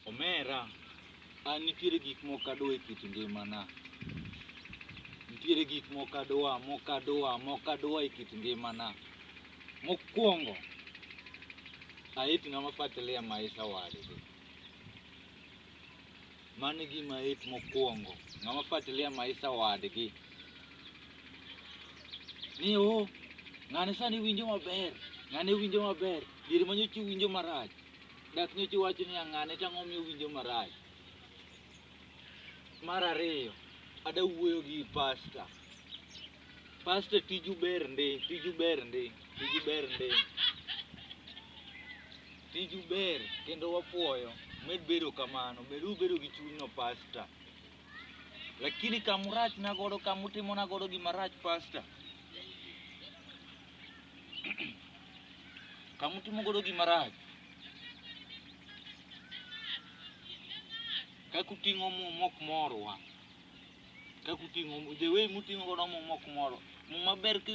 Omera, an nitiere gik moko adwa e kit ngimana. Nitiere gik moko adwa, moko adwa, moko adwa e kit ngimana. Mokwongo, ait ng'ama fuatilia maisha wadgi. Mano e gima ait mokwongo, ng'ama fuatilia maisha wadgi. Ni o, ng'ani sani winjo maber, ng'ani winjo maber, diere manyocha iwinjo marach. Dak nyocha iwach ni ang'ane to ang'o momiyo owinjo marach? Mar ariyo, ada wuoyo gi pasta. Pasta tiju ber ndi, tiju ber ndi, tiju ber ndi. Tiju ber kendo wapuoyo, med bedo kamano, med ubedo gi chunyno pasta. Lakini kama urachna godo, kama utimona godo gima rach pasta, kamutimo godo gima rach kaka uting'o muma ok morwa kaka uting'o the way muting'o godo muma ok moro muma ber ka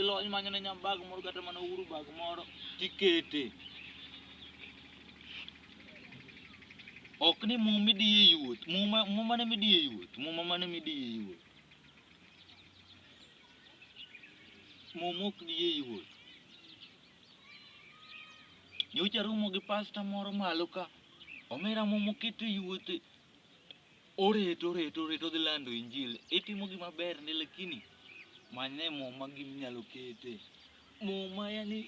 ilony manyo ne nyambag moro kata mana uhuru bag moro tikete ok ni muma midiye yuot muma muma ne midiye yuot muma mane midiye yuot Muma ok diye yot. Nyocha romo gi pasta moro malo ka, omera muma oketo e yot, oreto oreto oreto odhi lando injili. Itimo gima ber ndi lakini manyne muma gima inyalo kete. Muma yani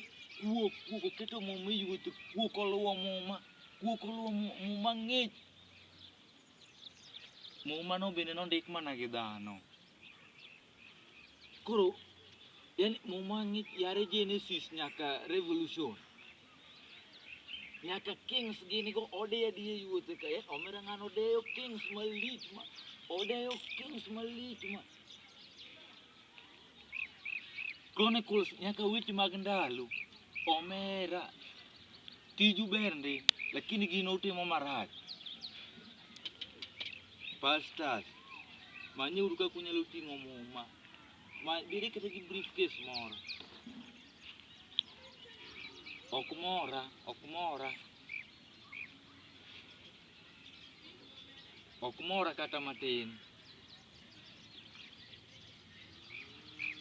kuok kuok oketo muma e yot, kuok oluwo muma, kuok oluwo muma, muma ng'ich. Muma no bende nondik mana gi dhano. Koro yani muma ng'ich yare Genesis nyaka Revolution. Nyaka Kings gini go odeyo adiye yuothe ka. Eh, omera ng'ano odeyo Kings malich ma. Odeyo Kings malich ma. Chronicles nyaka weche mag ndalo. Omera. Tiju ber ndi, lakini gin utimo marach. Pastors, manyuru kaka unyalo ting'o muma. Ma bire kata gi briefcase moro. Ok mora, ok mora. Ok mora kata matin.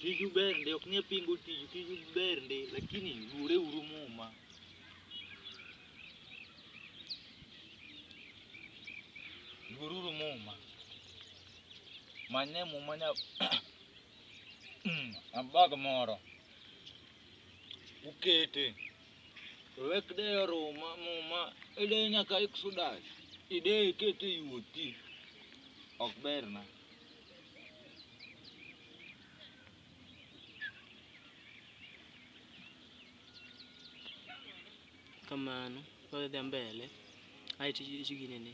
Tiju ber ndi, ok ni apingo tiju, tiju ber ndi lakini luore uru Muma. Luor uru Muma. Mane Muma nya abag moro ukete. Wek deyo ruma muma ideye nyaka exodus ideye kete yuoti ok berna kamano wadhi mbele ae tiginene